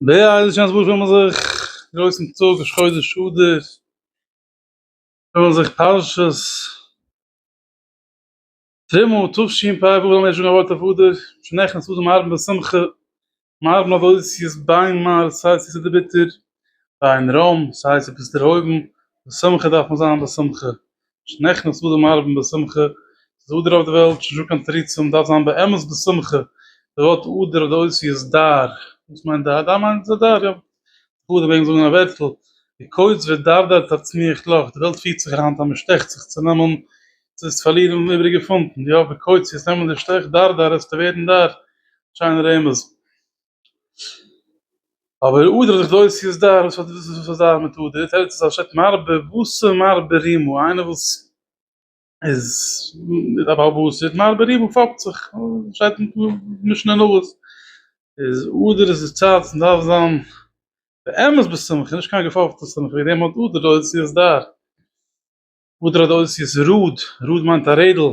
ב ה איז עס שוין אזויפיל מאל זיך גרויסן טאג ראש חודש אדר פארן זיך פרשת תרומה תשפ ב וואו זאל מען שוין א ווארט אויף אדר שוין נעכטן צו זאל מען האבן די שמחה מארן אויף אוסיעס ביין מר ס הייסט עס ביטער ביין רמ ס הייסט עס דערהויבן בשמחה דארף מען זיין בשמחה שניכם סעודה מערבים בשמחה, ס'איז אדר אויף די וועלט, ס'איז נישטא קיין תריצים, דארף זיין באמת בשמחה, די ווארט אדר האט די אותיות דר, וואס מיינט דר? דר מיינט איז אדר, יא, כ'האף די וועגסט זאגן א ווערטל, די קוץ ודרדרת הצמיח לך, די וועלט פירט זיך היינט אז מ'שטעכט זיך צו נעמען צו עס פארלירן און איבריגע פונטן, יא, די קוץ, יעצט נעמען די שטעך, דרדר, עסטו ווערן דר, שיינע רמז. אבער אויב דער דאס איז דאס וואס האט דאס איז דאס מיט אויב דער טייטל איז אנשטאט מר ב וואס איז מר ב רימו איינער וואס איז איז א בעל הבית איז מר ב רימו פאפט זיך שטייט אין משנה אין אבות איז אויב דער איז צייט צו דארף זיין באמת בשמחה נישט קיין געפאפטע שמחה ווי דעם האט אויב דער דאס איז דאס אויב דער דאס איז רוד רוד מיינט א רעדל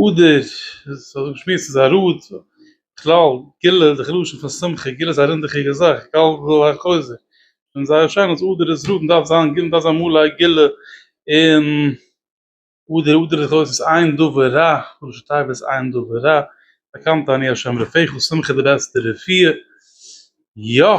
אדר, ס'האט זיך געשמועסט איז א ראד, בכלל גילה די חילול השם פון שמחה, גילה איז א רינדעכיגע זאך, גאל וויל א חוזק, און זייער שיין אז אדר איז ראד, מ'דארף זיין גיל מ'דארף זיין מלא גילה אין אדר, אדר איז אויס עין דבר רע, ראש התיבות איז עין דבר רע, באקאנט אני השם רופאיך, שמחה די בעסטע רפואה, יא.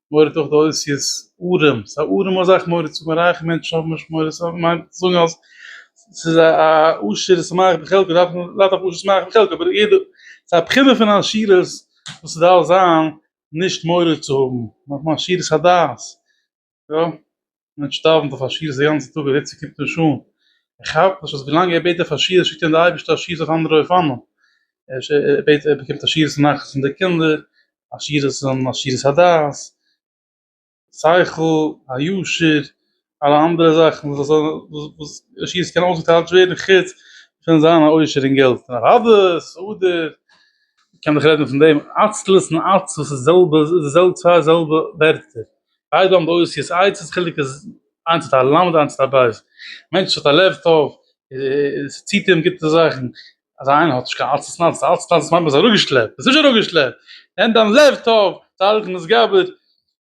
מוריד אויך די אותיות ארם, ס'איז א ארעמע זאך מוריד צו זאגן, רייכע מענטשן האבן נישט מוריד, ס'האט געמיינט צו זאגן אז ס'איז א עשיר איז שמח בחלקו, דארף מען לאו דווקא עשיר שמח בחלקו, אבער יעדע, ס'איז א בחינה פון עשירות וואס ס'דארף זיין נישט מוריד צו האבן, נאכדעם עשירות הדעת, יא. מען שטארבן פאר פארשיערס די גאנצע טאג און איצט קומט נישט אן, ער כאפט נישט אז ווילאנג ער בעט די פארשיערס שיקט אים די אייבערשטער א שיעור אויף אנדערע אופנים, ער בעט ער באקומט א שיעור אויף נחת פון די קינדער, א שיעור אויף זיין עשירות הדעת, שכל, הישר, אלע אנדערע זאכן וואס זאל וואס די שיעור קען אויסגעטיילט ווערן חוץ פון זיין א עושר אין געלט, און אדרבה סעודה, מ'קען דאך רעדן פון דעם עצלות און עצבות איז די זעלבע איז די זעלבע צוויי זעלבע ווערטער, ביידע האבן די אותיות עצ, די חילוק איז איינס האט א ל' און איינס האט א ב', א מענטש וואס האט א לב טוב און ס'ציט אים גוטע זאכן, אזא איינער האט נישט קיין אלץ און אלץ, אלץ און אלץ מיינט מ'איז אראפגעשלעפט, מ'איז נישט אראפגעשלעפט, נעם דיין לב טוב, צדיק נשגב,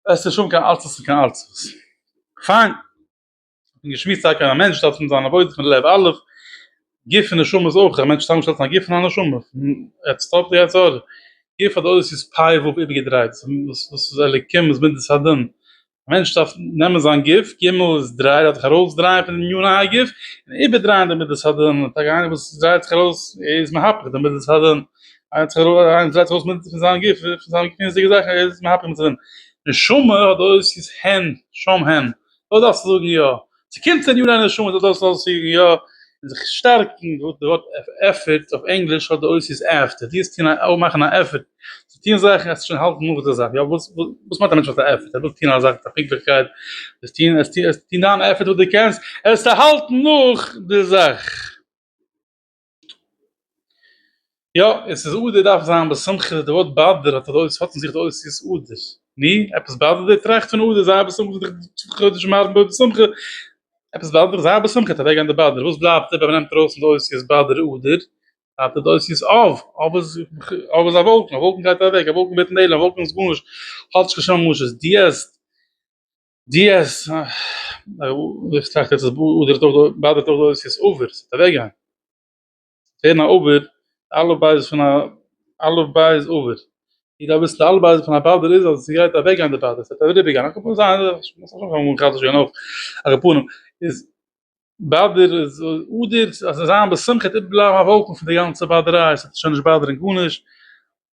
וועסטו נישט האבן קיין אלץ און קיין אלץ. פיין. און געשמועסט טאקע אז א מענטש דארף פון זיין עבודה פון לב א', גוף און נשמה איז אויך, א מענטש האט צוזאמענגעשטעלט פון א גוף און א נשמה, פון עץ טוב צו עץ אור, גוף האט אויס איז פיי וו איבערגעדרייט, וואס וואס איז אלוקים וואס מידת הדין, א מענטש דארף נעמען זיין גוף, ג' איז דריי, דארף זיך ארויסדרייען פון דעם יון א גוף, און איבערדרייען די מידת הדין, טאקע איינער וואס דרייט זיך ארויס איז מהפך די מידת הדין, איינער צו איינער וואס דרייט זיך ארויס מידת פון זיין גוף, פון זיינע גופ'נדיגע זאכן איז מהפך מידת הדין, נשמה האט אויס איז הן, שם הן. דאס דארפסטו זאגן יא, ס'קומט אין יאר א נשמה דאס דארפסטו זאגן יא, און זיך שטארקן, דאס ווארט עפערט אויף ענגליש האט די אויסזיס עפטער, דו וועסט טון א מאכן א עפערט צו טון זאכן וועסטו שוין האלטן נאך די זאך, יא וואס וואס מיינט א מענטש האט א עפערט? ער וויל טון א זאך מיט א פונקטליכקייט, וועסט טון וועסט טון דיין עפערט וואס דו קענסט, וועסטו האלטן נאך די זאך. יא, און סעודה דארף זיין בשמחה, די ווארט באדר האט אזוי ס'האט אין זיך די אותיות אדר, ני? עפעס באדערט דיר? טראכט פון אדר זיי בשמחה זיך צו חדש מארגן אוי בשמחה, עפעס באדערט דיך? זיי בשמחה גייט אוועקגיין די באדער, וואס בלייבט איבער ווען מ'נעמט ארויס פון די אותיות באדער אדר? בלייבט די אותיות אב, אב איז אב איז א וואלקן, א וואלקן גייט אוועק, א וואלקן ווערט נעלם, א וואלקן איז גארנישט, האט נישט קיין שום משמעות, דיעז. די אז איך טראכט יעצט אז באדערט אויך דא באדערט אויך דא איז עס אויבער ס'וועט אוועק גיין ווערן א אויבער אלע בייז פון א אלע בייז אויבער איך דארף וויסן די אלע בייז פון א באדער איז אז ס'גייט אוועק גיין די באדער ס'וועט אריבער גיין א קאפל זיין א קאפל איז באדער איז אדער אז זיין בשמחה איז איבערבלייבן א וואקום פון די גאנצע באדעריי ס'וועט שוין נישט באדערן גארנישט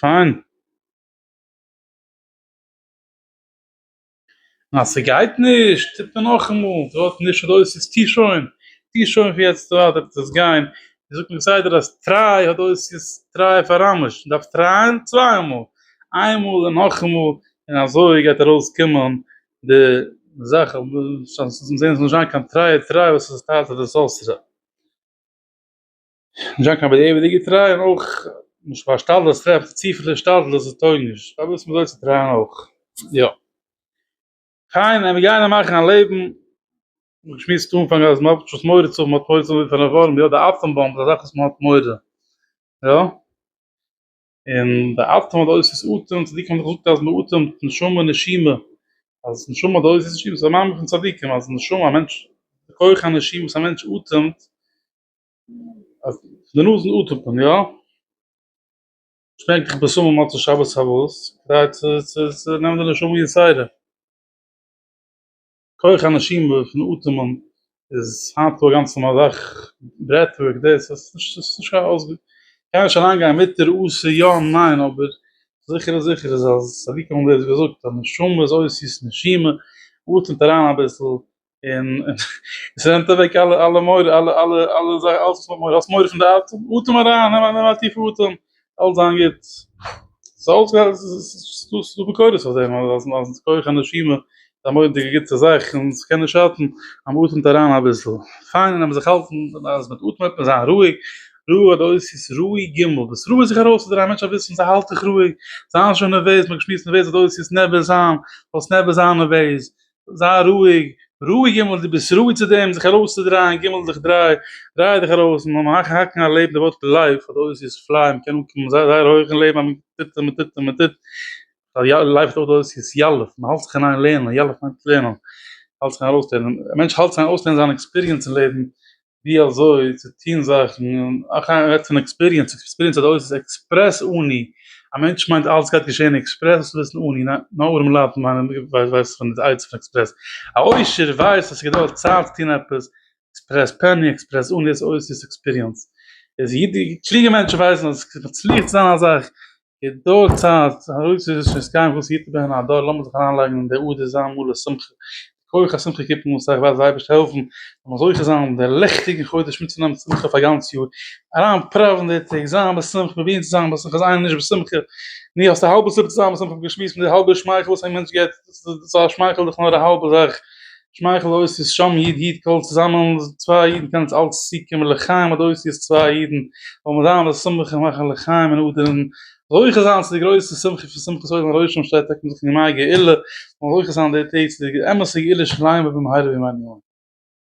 פיין. און אז ס'גייט נישט טוט מען נאכאמאל, טו האסט נישט אדורך ס'איז טו שוין, טו שוין פון יעצט און ווייטער וועט עס גיין, ווי זאגט מען כסדר אז טריי אדורך ס'איז טריי פאר אמשט, מען דארף טרייען צוויי מאל, איין מאל און נאכאמאל, און אזוי גייט ארויס קומען די זאך, ס'וועט זעהן ס'זאל נישט זיין קיין טריי טריי וואס איז טייטש די סארסערער. נישט זיין קיין בדיעבד'יגע געטריי און אויך נישט השתדלות, טרעפט צופיל השתדלות דאס טויג נישט, פארוואס מוז מען אויס טרייען אויך? יא. פיין מיר גייען מאכן א לעבן, מיר שמועסט אנפאנג אז מען האט שוין מורא צו האבן, מען האט מורא צו האבן פון א ווארעם, יא די אטאם באמב איז א זאך וואס מען האט מורא, יא. און די אטעם האט אויס איז אטעם, צדיקים האבן דאך געזאגט אז מען אטעמט נשמה נשימה, אז נשמה האט אויס איז נשימה, ס'איז א מאמר פון צדיקים אז נשמה א מענטש, די כח הנשימה וואס א מענטש אטעמט, אז פון די נאז אטעמט מען יא? שטענקעך בשמים מוצאי שבת פארוואס? כדי צו צו צו נעמען די נשמה יצירה. כח הנשימה פון אטעמען איז היינט דא גאנץ נארמאל אזאך ברעט ווארק דאס עס איז נישט עס איז נישט קיין אויסגאנג קען מען נישט אריין גיין מיט ר א ס יא ניין אבער זיכער איז זיכער איז אז אזוי ווי מ'האט געזאגט אז נשמה איז אויס איז נשימה אטעמט אריין אביסל און עס נעמט אוועק אלע אלע מורא אלע אלע אלע זאכן אלעס וואס מ'האט מורא פון די אטעם אטעם אריין נעם א טיפע אטעם אלס זיין גוט סאלס גאר עס איז דא ביקורת אויף דעם אז אז אז כח הנשימה א מודיע גוטע זאך און עס קען נישט שאטן אז מען אטעמט אריין אביסל פיין און אז מען זיך האלטן אז מען אטעמט מען זיין רואיג ראה עוד אוסיף ראה ג דאס ראה זיך ארויסצודרייען א מענטש זאל וויסן זיי האלט דיך רואיג זיי זענען שוין נערוועז מען האט געשמועסט נערוועז עוד אוסיף נערוועז זיין וואס נערוועז זיין נערוועז זיי רואיג, רואיג גימל דו ביסט ראוי צו דעם זיך ארויסצודרייען גימל דיך דריי, דריי דיך ארויס מען האקן האקן א לעבן די ווארט לייף האט אויס איז פליי מען קען אנקומען זייער זייער הויך אין לעבן אז מען טוט און מען טוט און מען טוט לייף האט אויס איז ילף מען האלט זיך אין איין לערנען ילף מיינט לערנען האלט זיך אין ארויסלערנען א מענטש האלט זיך אין ארויסלערנען זיין עקספיריענס אין לעבן ווי אזוי צו טון זאכן, אויך איינער רעדט פון עקספיריענס, עקספיריענס האט אויס איז עקספרעס אני, א מענטש מיינט אלעס גייט געשען עקספרעס, דאס וויסן אני, נאר ארעמע לייט מיינען ווייסן פון די עצה פון עקספרעס, א עושר ווייסט אז ס'געדויערט צייט צו טון עפעס, עקספרעס פעני, עקספרעס אני, דאס אויס איז עקספיריענס, איז אידיש, קלוגע מענטשן ווייסן אז עס מצליח צו זיין א זאך, געדויערט צייט, אויב ס'איז עס שוין סקייען וואס היט ב ה הדור לאמיר זיך אריינלייגן אין די אדר זיין מלא שמחה, די כח השמחה קיפּן אן סאך וואס די אייבערשטער העלפן מ'זאל זוכה זיין אין די לעכטיגן חודש מיטצונעמען שמחה פאר גאנץ יאר, אריין פראווען די טעג, זיין בשמחה, פרובירן צו זיין בשמחה, זיי נישט בשמחה, נו האסט א האלבע סיבה צו זיין בשמחה, האב געשמועסט פון די האלבע שמייכל וואס א מענטש געט, דאס איז א שמייכל דאך נאר א האלבע זאך, שמייכל אויס איז שם איד איד קהל צוזאמען צוויי אידן קען אונז אלץ צוקומען לחיים אט אויס איז צוויי אידן וועלן מיר זיין בשמחה און מאכן לחיים און אדערן זוכה זיין צו די גרויסע שמחה פון שמחת עולם הראשון שטייט טאקע מיט ימי הגאולה און זוכה זיין די טעג צו די אמת'ע גאולה שלמה במהרה בימינו אמן.